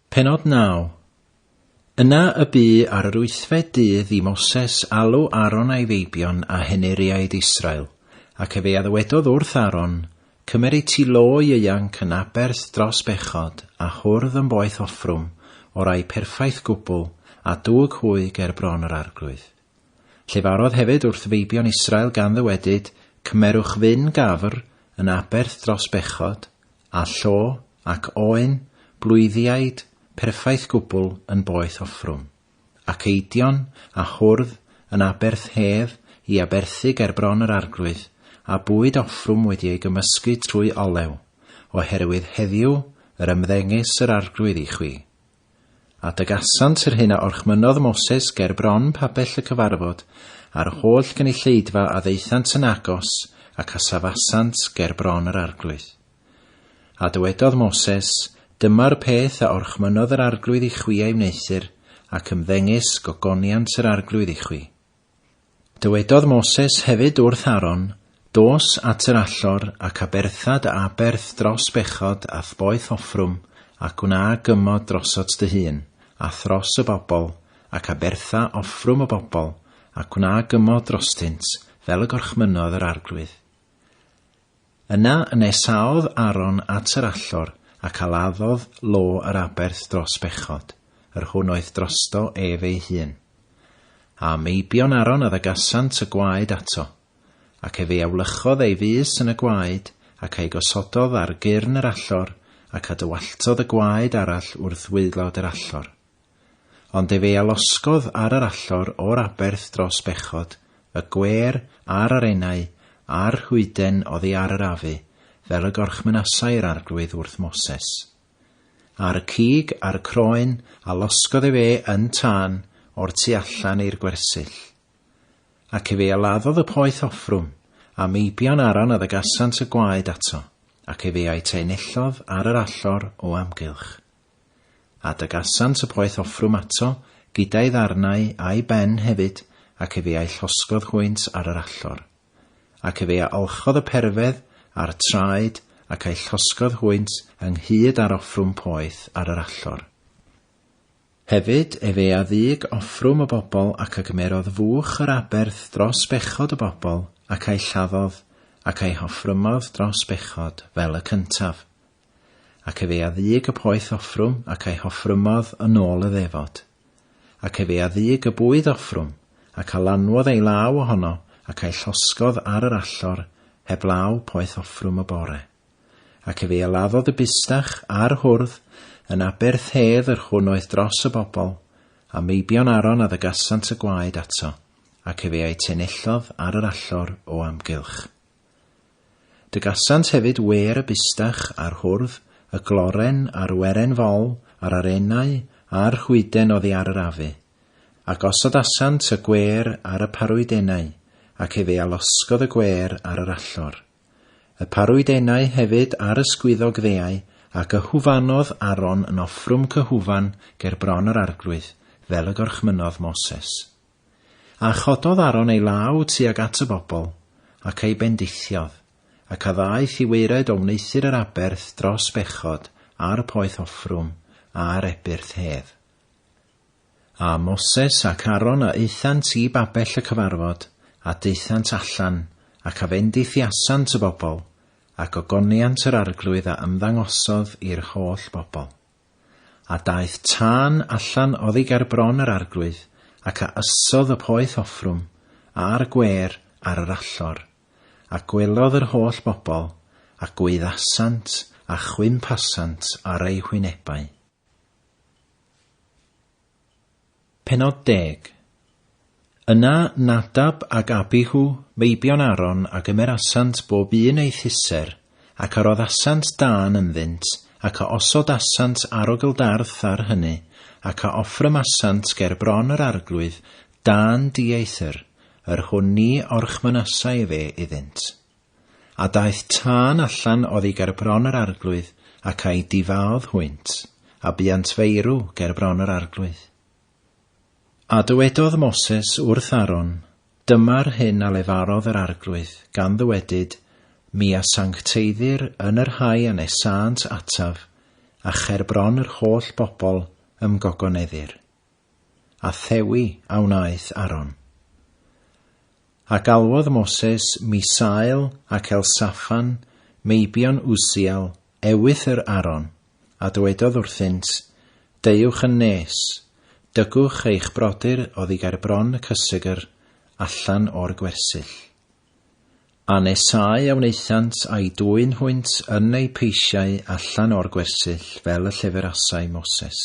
Pennod 9. Yna y bu ar yr wythfed dydd i Moses alw Aaron a'i feibion a henuriaid Israel, ac efe a ddywedodd wrth Aaron, Cymeri ti lo ieuanc yn aberth dros bechod, a hwrdd yn boeth offrwm, o rai perffaith gwbl, a dwg hwy ger bron yr arglwydd. Llefarodd hefyd wrth feibion Israel gan ddywedyd, Cymerwch fyn gafr yn aberth dros bechod, a llo, ac oen, blwyddiaid, perffaith gwbl yn boeth offrwm, ac eidion, a hwrdd, yn aberth hedd, i aberthu ger bron yr arglwydd, a bwyd offrwm wedi ei gymysgu trwy olew, oherwydd heddiw yr ymddengys yr arglwydd i chwi, A dygasant yr hyn a orchmynnodd Moses ger bron pabell y cyfarfod, a'r holl gynulleidfa a ddaethant yn agos, ac a safasant ger bron yr arglwydd. A dywedodd Moses, Dyma'r peth a orchmynnodd yr arglwydd i chwi a'i wneuthur, ac ymddengys, gogoniant yr arglwydd i chwi. Dywedodd Moses hefyd wrth Aaron, Dos at yr allor, ac abertha dy aberth dros bechod a thboeth offrwm, a gwna gymod drosot dy hun, a thros y bobl, ac abertha offrwm y bobl, a gwna gymod drostynt, fel y gorchmynnodd yr Arglwydd. Yna nesaodd Aaron at yr allor, ac aladdodd lo yr aberth dros bechod, yr hwn oedd drosto ef ei hun. A meibion Aaron a ddagasant y gwaed ato, ac ef ei awlychodd ei fys yn y gwaed, ac ei gosododd ar gyrn yr allor, ac a dywalltodd y gwaed arall wrth waelod yr allor. Ond efe a losgodd ar yr allor o'r aberth dros bechod, y gwêr, a'r arennau, a'r rhwyden oddi ar yr afu, fel y gorchmynasai yr Arglwydd wrth Moses. Ar y cig, ar y croen, a losgodd efe yn tân, o'r tu allan i'r gwersyll. Ac efe a laddodd y poeth offrwm, a meibion Aron a ddygasant y gwaed ato, ac efe a'i trenellodd ar yr allor o amgylch. Adegasant y poeth offrwm ato, gyda'i ddarnau a'i ben hefyd, ac efe a'i llosgodd hwynt ar yr allor. Ac efe a olchodd y perfedd, a'r traed, ac a'i llosgodd hwynt ynghyd â'r offrwm poeth ar yr allor. Hefyd efe a ddug offrwm y bobl ac a gymerodd fuwch yr aberth dros bechod y bobl, ac a'i lladdodd, ac a'i hoffrymodd dros bechod, fel y cyntaf, Ac efe a ddug y poeth offrwm ac a'i hoffrymodd yn ôl y ddefod. Ac efe a ddug y bwyd offrwm, ac a lanwodd ei law ohono ac a'i llosgodd ar yr allor heblaw poeth offrwm y bore. Ac efe a laddodd y bustach a'r hwrdd yn aber thedd yr hwn oedd dros y bobl, a meibion Aron a ddygasant y gwaed ato, ac efe a'i tenellodd ar yr allor o amgylch. Dygasant hefyd wêr y bustach a'r hwrdd, y gloren a'r weren fol a'r arenau a'r rhwyden oddi ar yr afu. A gosodasant y gwêr ar y parwydenau, ac efe a losgodd y gwêr ar yr allor. Y parwydenau hefyd a'r ysgwyddog ddeau, ac y hwfanodd Aron yn offrwm cyhwfan ger bron yr arglwydd, fel y gorchmynnodd Moses. A chododd Aaron ei law tuag at y bobl, ac ei bendithiodd, ac a ddaeth i waered o wneuthur yr aberth dros bechod a'r poeth offrwm a'r ebyrth hedd. A Moses ac Aaron a aethant i babell y cyfarfod, a daethant allan, ac a fendithiasant y bobl, a gogoniant yr arglwydd a ymddangosodd i'r holl bobl. A daeth tân allan oddi ger bron yr arglwydd, ac a ysodd y poeth offrwm, a'r gwêr, ar yr allor. A gwelodd yr holl bobl, a gwyddasant, a chwymphasant ar eu hwynebau. Pennod deg. Yna Nadab ac Abihu, meibion Aaron, a gymerasant bob un ei thyser, ac a roddasant dân ynddynt, ac a osodasant arogl darth ar hyny, ac a offrymasant ger bron yr arglwydd, dân dieithr, yr hwn ni orchmynasai efe iddynt. A daeth tân allan oddi ger bron yr arglwydd, ac a'i difaodd hwynt, a buant feirw ger bron yr arglwydd. A dywedodd Moses wrth Aaron, Dyma'r hyn a lefarodd yr arglwydd, gan ddywedyd, Mi a sancteiddir yn y rhai a nesânt ataf, a cher bron yr holl bobl ymgogoneddir. a thewi a wnaeth Aron. A galwodd Moses Misael ac Elsafan, meibion Usiel, ewythr Aron, a dywedodd wrthynt, Deuwch yn nes, dygwch eich brodyr oddi ger bron y cysegr, allan o'r gwersyll. A nesau a wnaethant a'i dwyn hwynt yn eu peisiau allan o'r gwersyll fel y lleferasai Moses.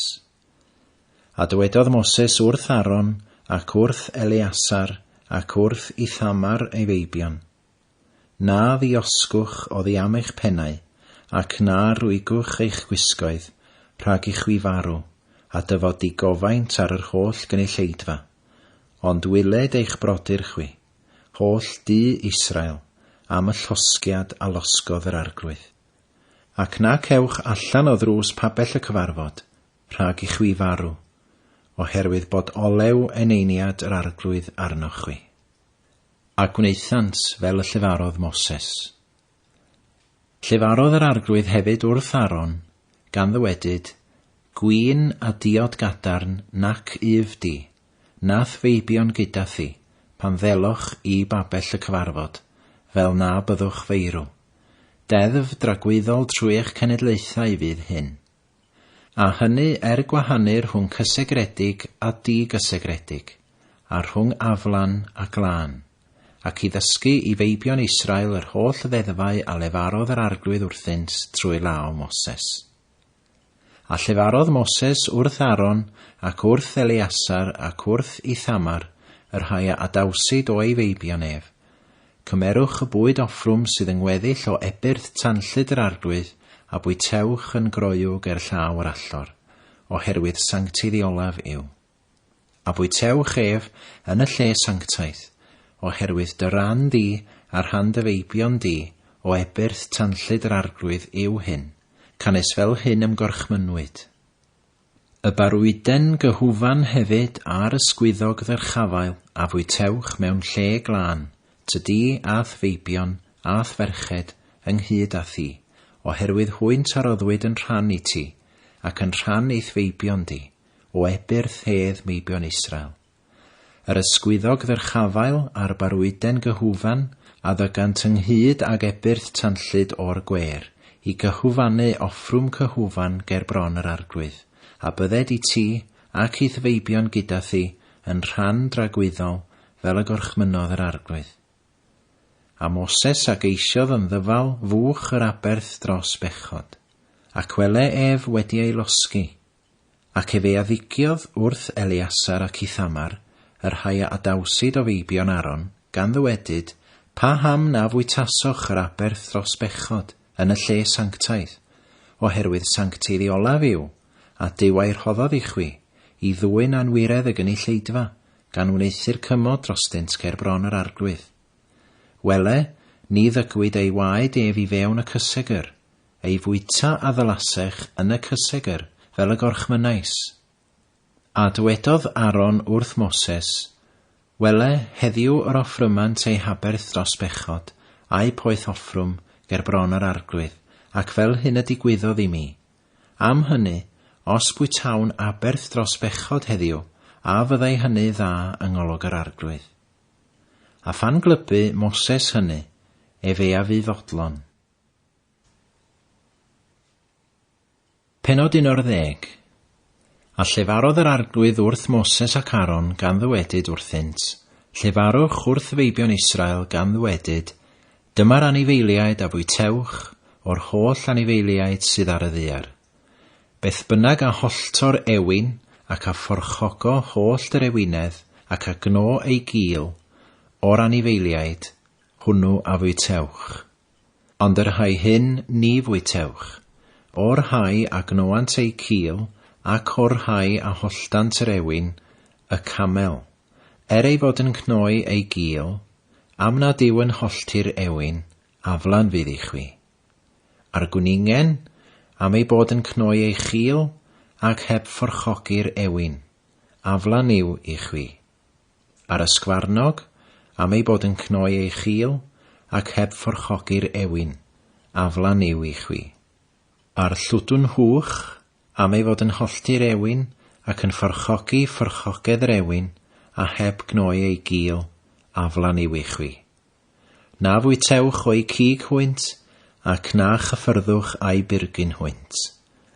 A dywedodd Moses wrth Aaron, ac wrth Eleasar, ac wrth Ithamar ei feibion, Na ddiosgwch oddi am eich pennau, ac na rwygwch eich gwisgoedd, rhag i chwi farw, a dyfod digofaint ar yr holl gynulleidfa, ond wyled eich brodyr chwi, holl du Israel, am y llosgiad a losgodd yr Arglwydd. Ac na cewch allan o ddrws pabell y cyfarfod, rhag i chwi farw, oherwydd bod olew eneiniad yr Arglwydd arnoch chwi. A gwnaethant fel y llefarodd Moses. Llefarodd yr Arglwydd hefyd wrth Aaron, gan ddywedyd, Gwin a diod gadarn nac yf di, Nath feibio'n gyda thi, pan ddeloch i babell y cyfarfod, fel na byddwch feirw. Deddf dragwyddol trwy eich cenedlaethau fydd hyn. A hynny er gwahanu rhwng cysegredig a di-gysegredig, a rhwng aflan a glân, ac i ddysgu i feibion Israel yr holl ddeddfau a lefarodd yr Arglwydd wrthynt trwy law Moses. A llefarodd Moses wrth Aaron, ac wrth Eleasar, ac wrth Ithamar, y rhai a adawsid o ei feibion ef, Cymerwch y bwyd offrwm sydd yng ngweddill o ebyrth tanllyd yr arglwydd, a bwytewch yn groyw ger llaw yr allor, oherwydd sanctaidd i olaf yw. A bwytewch ef yn y lle sanctaidd, oherwydd dy ran di a rhan dy feibion di o ebyrth tanllyd yr Arglwydd yw hyn, canys fel hyn ymgorchmynnwyd. Y barwuden gyhufan hefyd a'r ysgwyddog ddyrchafael a fwytewch mewn lle glân, ty di a'th feibion a'th ferched ynghyd â thi, oherwydd hwynt a roddwyd yn rhan i ti, ac yn rhan i'th feibion di, o ebyrth hedd meibion Israel. Yr ysgwyddog ddyrchafael a'r barwuden gyhwfan a ddygant ynghyd ag ebyrth tanllyd o'r gwêr, i gyhwfanu offrwm cyhwfan ger bron yr arglwydd, a bydded i ti, ac i'th feibion gyda thi, yn rhan dragwyddol, fel y gorchmynnodd yr arglwydd. A Moses a geisiodd yn ddyfal fuwch yr aberth dros bechod. Ac wele ef wedi ei losgi, Ac efe a ddigiodd wrth Eleasar ac Ithamar, y rhai a adawsid o feibion Aaron, gan ddywedyd, Paham na fwytasoch yr aberth dros bechod, yn y lle sanctaidd? oherwydd sancteidd i olaf yw, a Duw a'i rhoddodd i chwi, i ddwyn anwiredd y gynulleidfa, gan wneuthur cymod drostynt ger bron yr arglwydd. Wele, ni ddygwyd ei waed ef i fewn y cysegr, ei fwyta a ddylasech yn y cysegr fel y gorchmynnais. A dywedodd Aaron wrth Moses, Wele, heddiw yr offrymant ei haberth dros bechod, a'u poeth offrwm, ger bron yr arglwydd, ac fel hyn y digwyddodd i mi. Am hynny, os bwytawn aberth dros bechod heddiw, a fyddai hynny dda yng ngolwg yr arglwydd? A phan glybu Moses hynny, ef ef fu fodlon. Pennod 11 A llefarodd yr Arglwydd wrth Moses ac Aaron gan ddywedyd wrthynt, Llefarwch wrth feibion Israel gan ddywedyd, Dyma'r anifeiliaid a fwytewch o'r holl anifeiliaid sydd ar y ddaear. Beth bynnag a hollto'r ewin, ac a phorchogo hollt yr ewinedd, ac a gno ei gul, o'r anifeiliaid, hwnnw a fwytewch. Ond yr rhai hyn ni fwytewch, o'r rhai a gnôant eu cil, ac o'r rhai a holldant yr ewin, y camel, er ei fod yn cnoi ei gil, am nad yw yn hollti'r ewin, aflan fydd i chwi. A'r gwningen, am ei bod yn cnoi ei chil, ac heb forchogi'r ewin, aflan yw i chwi. Ar y sgfarnog, am ei bod yn cnoi ei chil, ac heb fforchogi'r ewin, aflan yw i chwi. A'r llwdwn hwch, am ei fod yn hollti'r ewin, ac yn fforchogi fforchogedd yr ewin, a heb gnoi ei gil, aflan yw i chwi. Na fwytewch o'i cig hwynt, ac na chyffyrddwch a'i byrgyn hwynt.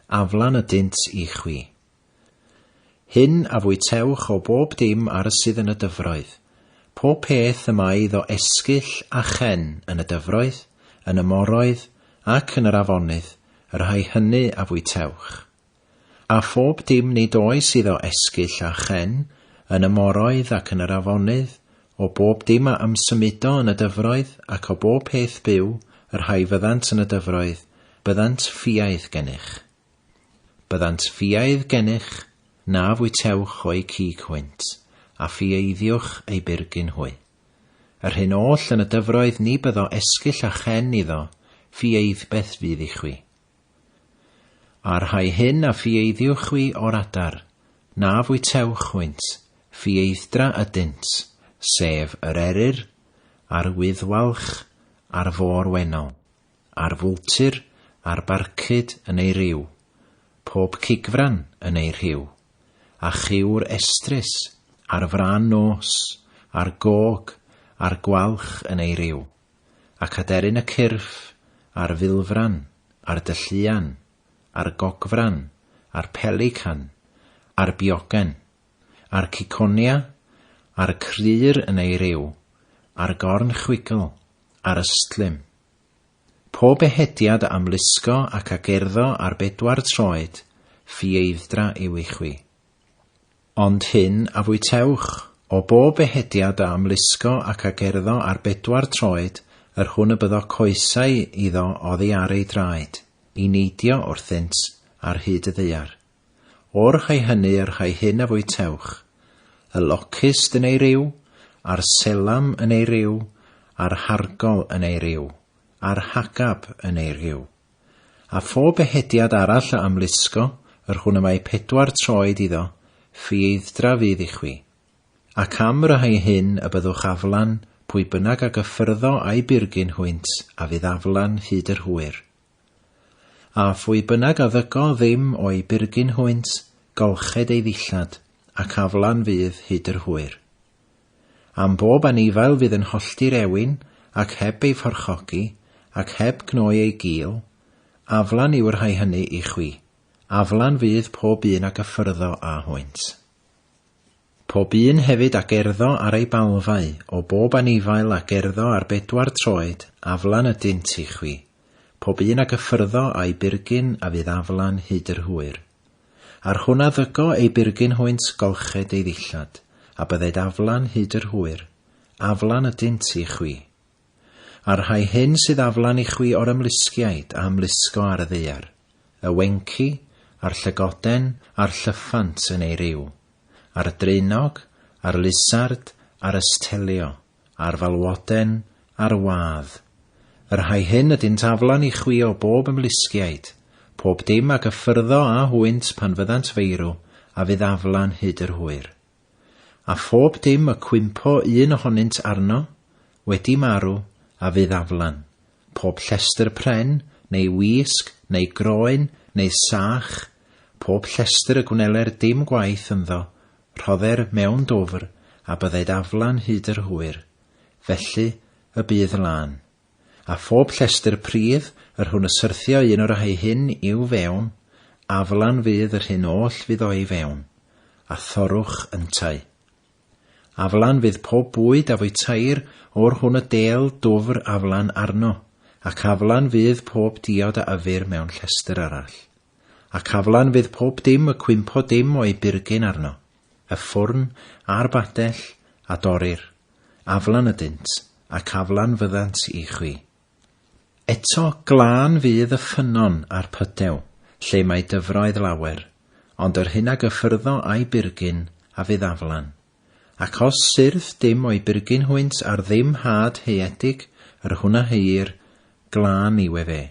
Aflan ydynt i chwi. Hyn a fwytewch o bob dim ar y sydd yn y dyfroedd, pob peth y mae iddo esgyll a chen yn y dyfroedd, yn y moroedd, ac yn yr afonydd, y rhai hynny a fwytewch. A phob dim nid oes iddo esgyll a chen yn y moroedd ac yn yr afonydd, o bob dim a ymsymudo yn y dyfroedd, ac o bob peth byw, y rhai fyddant yn y dyfroedd, byddant ffiaidd gennych. Byddant ffiaidd gennych, na fwytewch o'u cig hwynt, a ffiaeiddiwch eu byrgyn hwy. Yr hyn oll yn y dyfroedd ni byddo esgyll a chen iddo, ffiaeidbeth fydd i chwi. A rhai hyn a ffiaeiddiwch chwi o'r adar, na fwytewch hwynt, ffiaeithdra ydynt, sef yr eryr, a'r wyddwalch, a'r fôr wennol, Ar fwltir, ar barcud yn ei ryw, Pob cigfran yn ei rhiw, A chiwr estrys, ar frân nos, Ar gog, ar gwalch yn ei ryw, Ac aderyn y cyrff, ar filfran, Ar dylluan, ar gogfran, Ar pelican, ar biogen, A'r ciconia, a'r crur yn ei ryw, a'r gorn chwigl, a'r ystlum. Pob ehediad a amlusgo ac a gerddo ar bedwar troed, ffieithdra ywi chwi. Ond hyn a fwytewch, o bob ehediad a amlusgo ac a gerddo ar bedwar troed, yr hwn y byddo coesau iddo oddi ar ei draed, i neidio wrthynt ar hyd y ddaear. O'r rhai hynny y rhai hyn a fwytewch, y locust yn ei ryw, a'r selam yn ei ryw, a'r hargol yn ei ryw, a'r hagab yn ei ryw. A phob ehediad arall a ymlusgo yr hwn y mae pedwar troed iddo, ffieithdra fydd i chwi. Ac am y rhai hyn y byddwch aflan, pwy bynnag a gyffyrddo a'i byrgyn hwynt, a fydd aflan hyd yr hwyr. A phwy bynnag a ddygo ddim o'i byrgyn hwynt, golched ei ddillad, ac aflan fydd hyd yr hwyr. Am bob anifail fydd yn hollti'r ewin, ac heb ei phorchogi, ac heb gnoi ei gul, aflan yw'r rhai hynny i chwi, aflan fydd pob un a gyffyrddo â hwynt. Pob un hefyd a gerddo ar ei balfau, o bob anifail a gerddo ar bedwar troed, aflan ydynt i chwi, pob un a gyffyrddo â'i byrgyn a fydd aflan hyd yr hwyr. Ar hwn a ddygo ei byrgyn hwynt golched ei ddillad, a bydded aflan hyd yr hwyr, aflan ydynt i chwi. A'r rhai hyn sydd aflan i chwi o'r ymlusgiaid a ymlusgo ar y ddaear, y wenci, a'r llygoden, a'r llyffant yn ei ryw, a'r draenog, a'r lizard, a'r ystelio, a'r falwoden, a'r wâdd, y rhai hyn ydynt aflan i chwi o bob ymlusgiaid, pob dim a gyffyrddo â hwynt pan fyddant feirw, a fydd aflan hyd yr hwyr. A phob dim y cwympo un ohonynt arno, wedi marw, a fydd aflan, pob llestr pren, neu wisg, neu groen, neu sach, pob llestr y gwneler dim gwaith ynddo, rhodder mewn dwfr, a bydded aflan hyd yr hwyr. Felly y bydd lân. a phob llestr pridd yr hwn y syrthio un o'r rhai hyn i'w fewn, aflan fydd yr hyn oll fydd o'i fewn, a thorrwch yntau. Aflan fydd pob bwyd a fwytair o'r hwn y del dwfr aflan arno, ac aflan fydd pob diod a yfir mewn llestr arall. Ac aflan fydd pob dim y cwympo dim o'i burgyn arno, y ffwrn a'r badell a dorir, aflan ydynt, ac aflan fyddant i chwi. Eto, glân fydd y ffynnon a'r pydew, lle mae dyfroedd lawer, ond yr hyn a gyffyrddo a'i byrgyn a fydd aflan. Ac os syrth dim o'i byrgyn hwynt ar ddim had haeedig, yr hwn a heuir, glân yw efe.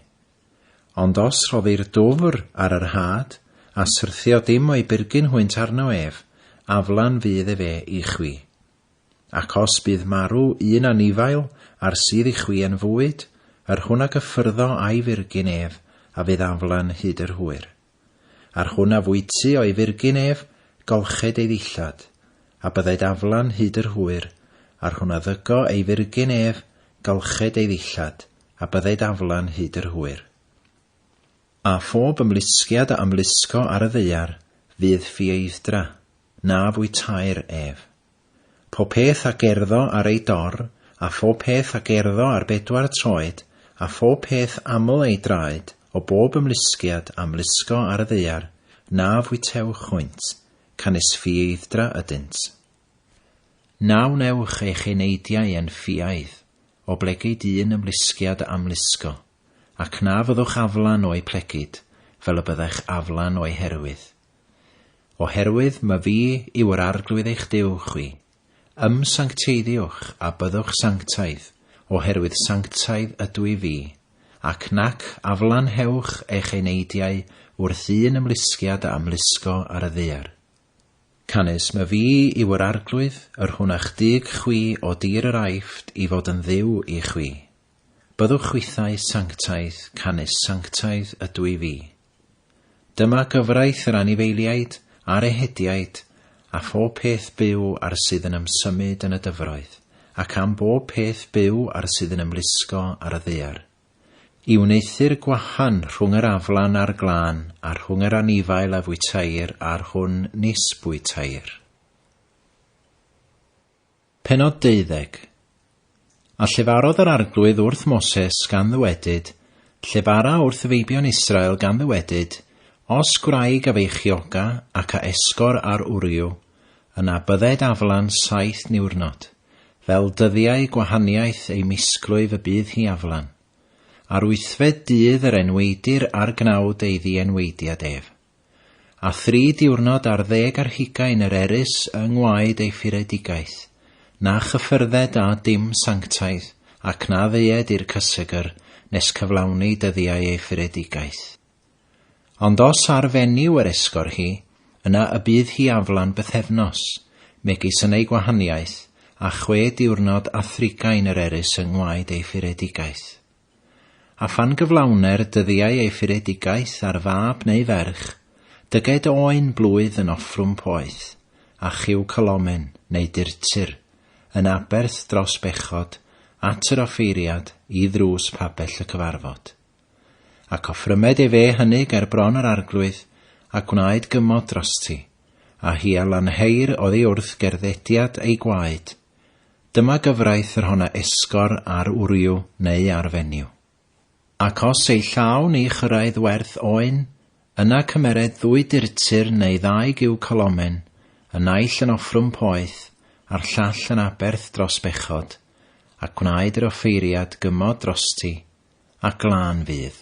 Ond os rhoddir dwfr ar yr had, a syrthio dim o'i byrgyn hwynt arno ef, aflan fydd efe i chwi. Ac os bydd marw un anifail a'r sydd i chwi yn fwyd, yr hwn a gyffyrddo a'i fyrgyn ef, a fydd aflan hyd yr hwyr. A'r hwn a fwyty o'i fyrgyn ef, golched ei ddillad, a bydded aflan hyd yr hwyr, a'r hwn a ddygo ei fyrgyn ef, golched ei ddillad, a bydded aflan hyd yr hwyr. A phob ymlusgiad a ymlusgo ar y ddaear fydd ffieithdra, na fwytair ef. Pob peth a gerddo ar ei dor, a phob peth a gerddo ar bedwar troed, a phob peth aml ei draed, o bob ymlusgiad a ymlusgo ar y ddaear, na fwytewch hwynt, canys ffieithdra ydynt. Na wnewch eich eneidiau yn ffiaidd, oblegid un ymlusgiad a ymlusgo. ac na fyddwch aflan o'u plegid fel y byddech aflan o'u herwydd. Oherwydd my fi yw yr Arglwydd eich Duw chwi, ymsancteiddiwch a byddwch sanctaidd, oherwydd sanctaidd ydw i fi, ac nac aflanhewch eich eneidiau wrth un ymlusgiad a ymlusgo ar y ddaear. Canys my fi yw yr Arglwydd, yr hwnach dug chwi o dir yr Aifft i fod yn Dduw i chwi. Byddwch chwithau sanctaidd canys sanctaidd ydw i fi. Dyma gyfraith yr anifeiliaid a'r ehediaid a phob peth byw a'r sydd yn ymsymud yn y dyfroedd, ac am bob peth byw a'r sydd yn ymlusgo ar y ddaear, i wneuthur gwahan rhwng yr aflan a'r glân, a rhwng yr anifail a fwytair a'r hwn nis bwytair. Pennod deuddeg. A llefarodd yr Arglwydd wrth Moses, gan ddywedyd, Llefara wrth feibion Israel, gan ddywedyd, Os gwraig a feichioga, ac a esgor ar wryw, yna bydded aflan saith niwrnod, fel dyddiau gwahaniaeth ei misglwyf y bydd hi aflan. Ar wythfed dydd yr enweidir ar gnawd ei ddienweidiad ef. a thri diwrnod ar ddeg ar hugain yr erys yng ngwaed ei furedigaeth, na chyffyrdded â dim sanctaidd, ac na ddeued i'r cysegr nes cyflawni dyddiau ei furedigaeth. Ond os ar fenyw yr esgor hi, yna y bydd hi aflan bythefnos, megis yn ei gwahaniaeth, a chwe diwrnod a thrigain yr erys yng ngwaed ei furedigaeth. A phan gyflawne'r dyddiau ei furedigaeth ar fab neu ferch, dyged oen blwydd yn offrwm poeth, a chiw calomen, neu durtur, yn aberth dros bechod, at yr offeiriad, i ddrws pabell y cyfarfod. Ac offrymed ef e hynny ger bron yr arglwydd, a gwnaed gymod drosti, a hi a lanheir oddi wrth gerddediad ei gwaed, Dyma gyfraith yr hon a esgor ar wryw neu ar fenyw. Ac os ei llaw ni chyrraedd werth oen, yna cymered ddwy durtur neu ddau giw colomen, y naill yn offrwm poeth, a'r llall yn aberth dros bechod, ac gwnaed yr offeiriad gymod drosti, a glân fydd.